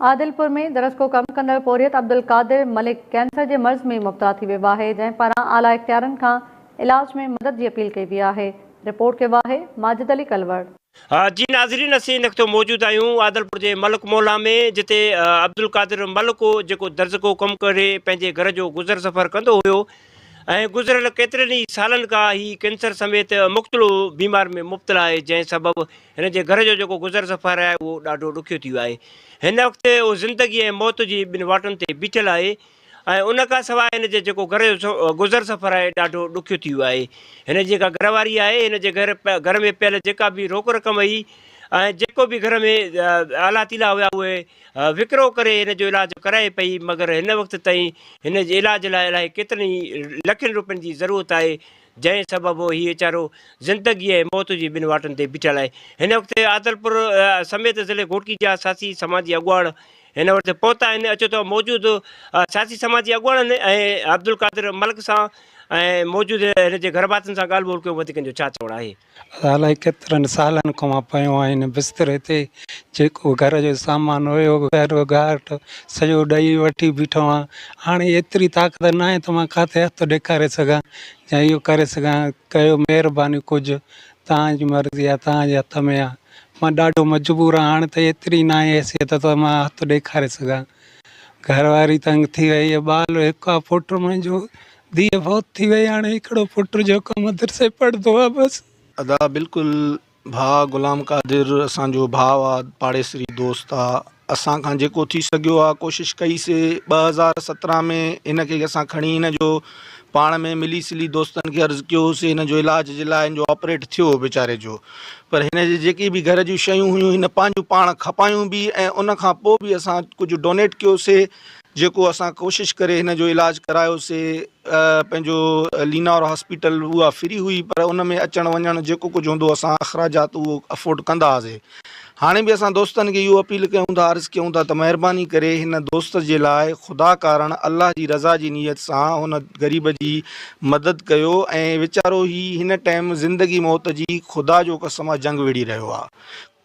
عادلپور ۾ درسڪو ڪم ڪندڙ پورهيت عبدالقادر ملڪ ڪينسر جي مرض ۾ مبتلا ٿي ويو آهي جنهن پاران اعليٰ اختيارين کان علاج ۾ مدد جي اپيل ڪئي وئي آهي رپورٽ ڪيو آهي ماجد علي ڪلوڙ. جي ناظرين اسين ان وقت موجود آهيون عادلپور جي ملڪ موهلا ۾ جتي عبدالقادر ملڪ هو جيڪو درسڪو ڪم ڪري پنهنجي گهر جو گذر سفر ڪندو هيو ۽ گذريل ڪيترن ئي سالن کان هي ڪينسر سميت مختلف بيمارين ۾ مبتلا آهي جنهن سبب هن جي گهر جو جيڪو گذر سفر آهي اهو ڏاڍو ڏکيو ٿي ويو آهي. هن وقت هو زندگي ۽ موت جي ٻن واٽن تي بيٺل آهي ۽ ان کان سواء هن جي جيڪو گهر جو گذر سفر آهي ڏاڍو ڏکيو ٿي ويو آهي. هن جي جيڪا گهر واري آهي هن جي گهر گهر ۾ پيل جيڪا به روڪ رقم هئي ۽ جيڪو به گهر ۾ آلا تيلا هيا اهي وڪرو ڪري هن جو علاج ڪرائي پئي مگر هن وقت تائين هن جي علاج لاء الائي ڪيترن ئي لکين روپين جي ضرورت آهي جنهن سبب هيء چارو زندگي ۽ موت جي ٻن واٽن تي بيٺل آهي. هن وقت عادلپور سميت ضلعي گهوٽڪي جا سياسي سماجي اڳواڻ هن وٽ پهتا آهن. اچو ته موجود سياسي سماجي اڳواڻن ۽ عبدالقادر ملڪ سان ۽ موجود هن جي گهرڀاتين سان ڳالهه ٻولهه ڪيون وڌيڪن جو ڇا چوڻ آهي. الائي ڪيترن سالن کان پيون آهن بستري تي جيڪو گهر جو سامان هيو گهر گهاٽ سڄو ڏئي وٺي بيٺو آهيان هاڻي ايتري طاقت ناهي ته مان ڪاٿي هٿ ڏيکاري سگهان يا اهو ڪري سگهان ڪيو مهرباني ڪجهه توهان جي مرضي آهي توهان جي هٿ ۾ آهي مان ڏاڍو مجبور آهيان هاڻي ته ايتري ناهي حيثيت ته مان هٿ ڏيکاري سگهان گهر واري تنگ ٿي وئي ٻال هڪ آهي پٽ منهنجو ڌيء فوت ٿي وئي هاڻي هڪڙو پٽ جيڪو مدرسي پڙهندو آ بس. ادا بلڪل ڀاء غلام قادر اسان جو ڀاء آ پاڙيسري دوست آ اسان کان جيڪو ٿي سگهيو آ ڪوشش ڪئي سي ٻه هزار سترهن ۾ هن کي اسان کڻي هن جو پاڻ ۾ ملي سلي دوستن کي عرض ڪيو سي هن جو علاج جي لاء هن جو آپريٽ ٿيو ويچاري جو پر هن جي جيڪي به گهر جون شيون هيون هن پنهنجون پاڻ کپايون به ۽ ان کان پوء به اسان ڪجهه ڊونيٽ ڪيو سي جيڪو اسان ڪوشش ڪري هن جو علاج ڪرايو سي پنهنجو لينار هاسپيٽل اها فري هئي پر ان ۾ اچڻ وڃڻ جيڪو ڪجهه هوندو اسان اخراجات اهو افورڊ ڪندا هئاسي هاڻي به اسان دوستن کي اهو اپيل ڪيون ٿا عرض ڪيون ٿا ته مهرباني ڪري هن دوست جي لاء خدا ڪارڻ الله جي رضا جي نيت سان هن غريب جي مدد ڪيو ۽ ويچارو هي هن ٽائيم زندگي موت جي خدا جو قسم آ جنگ وڙهي رهيو آ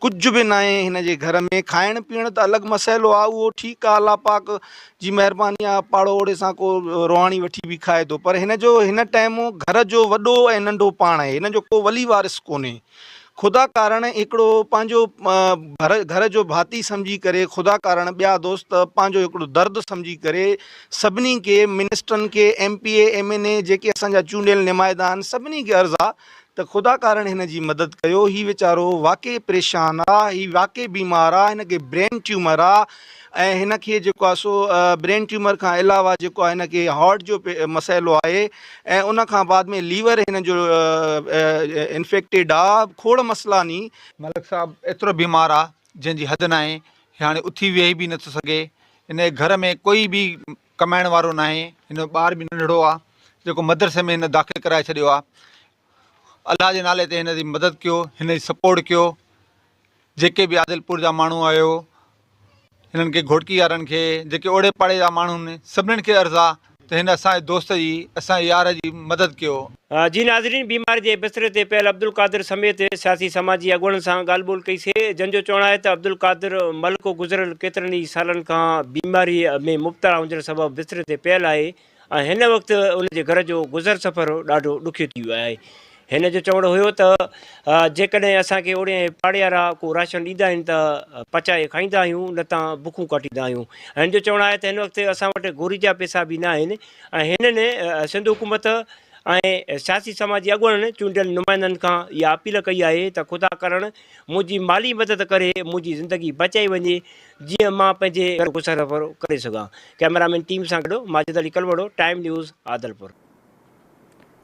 ڪجهه به ناهي هن جي گهر ۾، کائڻ پيئڻ ته الڳ مسئلو آ اهو ٺيڪ آ الله پاڪ جي مهرباني آ پاڙو اوڙي سان ڪو روهاڻي وٺي به کائي ٿو پر هن جو هن ٽائيم گهر جو وڏو ۽ ننڍو پاڻ آهي هن جو ڪو ولي وارث ڪونهي خدا ڪارڻ هڪڙو پنهنجو گهر جو ڀاتي سمجهي ڪري خدا ڪارڻ ٻيا دوست پنهنجو هڪڙو درد سمجهي ڪري سڀني کي منسٽرن کي M P A M N A جيڪي اسان جا چونڊيل نمائدا آهن سڀني کي عرض آ ته خدا ڪارڻ هن جي مدد ڪيو هي ويچارو واقعي پريشان آ هي واقعي بيمار آ هن کي برين ٽيومر آ ۽ هن کي جيڪو آ سو برين ٽيومر کان علاوه جيڪو آ هن کي هارٽ جو مسئلو آهي ۽ ان کان بعد ۾ ليور هن جو انفيڪٽيڊ آ کوڙ مسئلا ني ملڪ صاحب ايترو بيمار آ جنهن جي حد ناهي هي هاڻي اٿي ويهي به نٿو سگهي هن جي گهر ۾ ڪوئي به ڪمائڻ وارو ناهي هن جو ٻار به ننڍڙو آ جيڪو مدرسي ۾ هن داخل ڪرائي ڇڏيو آ الله جي نالي تي هن جي مدد ڪيو هن جي سپورٽ ڪيو جيڪي به عادلپور جا ماڻهو آهيو هنن کي گهوٽڪي وارن کي جيڪي اوڙي پاڙي جا ماڻهو آهن سڀنن کي عرض آ ته هن اسان جي دوست جي اسان جي يار جي مدد ڪيو جي ناظرين بيماري جي بستري تي پيل عبدالقادر سميت سياسي سماجي اڳواڻن سان ڳالهه ٻولهه ڪئي سي جن جو چوڻ آهي ته عبدالقادر ملڪو گذريل ڪيترن ئي سالن کان بيماري ۾ مبتلا هجڻ سبب بستري تي پيل آهي ۽ هن وقت ان جي گهر جو گذر سفر ڏاڍو ڏکيو ٿي ويو آهي هن جو چوڻ هيو ته جيڪڏهن اسان کي اوڙي پاڙيارا ڪو راشن ڏيندا آهن ته پچائي کائيندا آهيون نه ته بکون ڪاٽيندا آهيون هن جو چوڻ آهي ته هن وقت اسان وٽ گوري جا پيسا به نه آهن ۽ هنن سنڌ حڪومت ۽ سياسي سماجي اڳواڻن چونڊيل نمائندن کان اها اپيل ڪئي آهي ته خدا ڪرڻ منهنجي مالي مدد ڪري منهنجي زندگي بچائي وڃي جيئن مان پنهنجي گهر گسر ڪري سگهان ڪئميرا مين ٽيم سان گڏ ماجد علي ڪلوڙو ٽائيم نيوز عادلپور.